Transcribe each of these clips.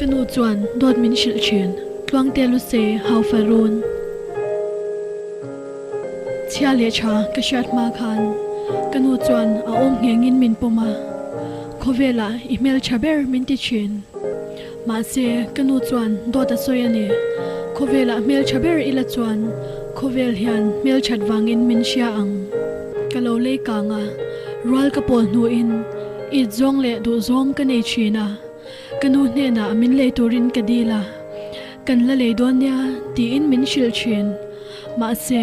Ka nu chuan, Dawt min hrilh thin, tluang tel u se, hau fa run. Chhia leh tha ka hriat hma khan ka nu chuan a awm ngheng in min pawm a, khawvelah i hmel tha ber min ti thin. Mahse, ka nu chuan dawt a sawi a ni. Khawvelah hmeltha ber ila chuan khawvel hian hmelthat vangin min hria ang. Ka lo lei kang a, rual ka pawl hnuin it zawng leh duh zawng ka nei thin a, ka nu hnenah min lei turin ka dil a, kan la lei dawn nia tiin min hrilh thin. Mahse,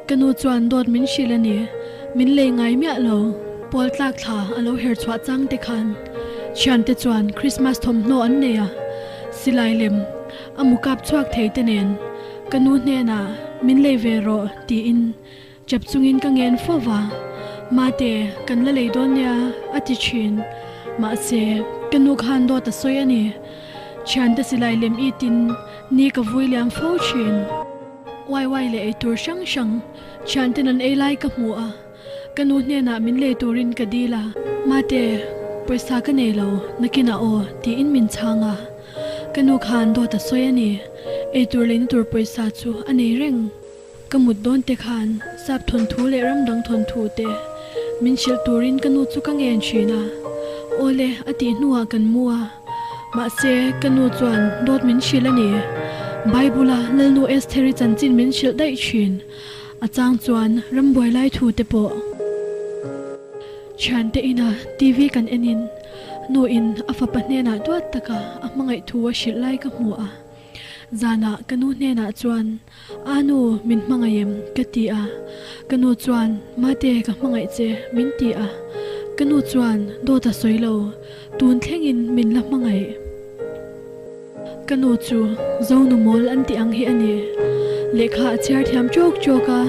ka nu chuan dawt min hrilh a ni. Min lei ngai miah lo. Pawl tlak thla a lo herh chhuah chang te khan thiante chuan Krismas thawmhnaw an nei a. Silai lem a mu kap chhuak thei te nen ka nu hnenah min lei ve rawh tiin chap chungin ka ngen fo va. Mahte kan la lei dawn nia a ti thin. Mahse, ka nu khan dawt a sawi a ni. Thiante silai lem itin ni ka vui liam fo thin. YY leh eitur hrang hrang thianten an ei lai ka hmu a, ka nu hnenah min lei turin ka dil a. Mahte, pawisa ka nei lo, nakin a aw, tiin min chhang a. Ka nu khan dawt a sawi a ni, eitur lei na tur pawisa chu a nei reng. Ka mut dawn te khan sap thawn thu leh ram dang thawn thu te min hrilh turin ka nu chu ka ngen thin a. Awle, a tih hnuah kan mu a. Mahse, ka nu chuan dawt min hrilh a ni. Bible-a Lalnu Esther-i chanchin min hrilh daih thin. A chang chuan ram buai lai thu te pawh. Thiante ina TV kan enin nu in a fapa hnenah duat taka a hmangaih thu a hrilh lai ka hmu a. Zanah ka nu hnenah chuan A nu, min hmangaih em? ka ti a, ka nu chuan, Mate, ka hmangaih che, min ti a, ka nu chuan, Dawt a sawi lo, tun thlengin min la hmangaih. Ka nu chu Zonu mawl an tih ang hi a ni, lehkha a chhiar thiam chawk chawk a,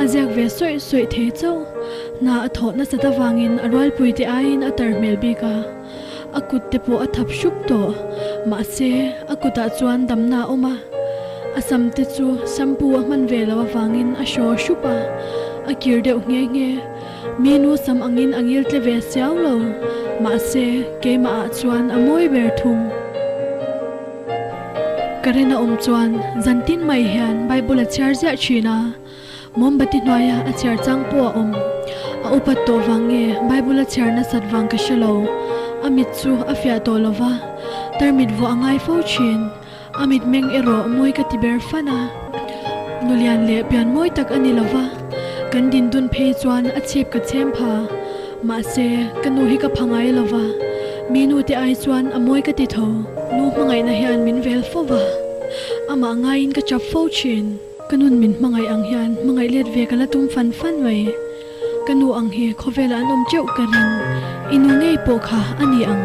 a ziak ve sawih sawih thei chauh, hna a thawh nasat avangin a rualpuite aiin a tar hmel bik a. A kut te pawh a thap hrup tawh. Mahse, a kutah chuan damna a awm a. A sam te chu shampoo a hman ve lo avangin a hraw hrup a, a kir deuh nghe nghe. Minu sam angin a ngil tle ve siau lo. Mahse, keimah ah chuan a mawi ber thung. Karen a awm chuan zantin mai hian Bible a chhiar ziah thin a. Mawmbati hnuaia a chhiar chang pawh a awm. A upat tawh vang nge Bible a chhiar nasat vang ka hre lo. A mit chu a fiah tawh lo va, tarmit vuah a ngai fo thin. A mitmeng erawh mawi ka ti ber fan a. Nulian leh pian mawi tak a ni lo va, kan dindun phei chuan a chhip ka chhem pha. Mahse, ka nu hi ka pha ngai lo va, mi nu te ai chuan a mawi ka ti tho. Nu hmangaihna hian min vel fo va, amah ngaiin ka chap fo thin. Ka nun min hmangaih ang hian hmangaih let ve ka la tum fan fan mai. Ka nu ang hi khawvel ah an awm teuh ka ring. I nu ngei pawh kha a ni ang.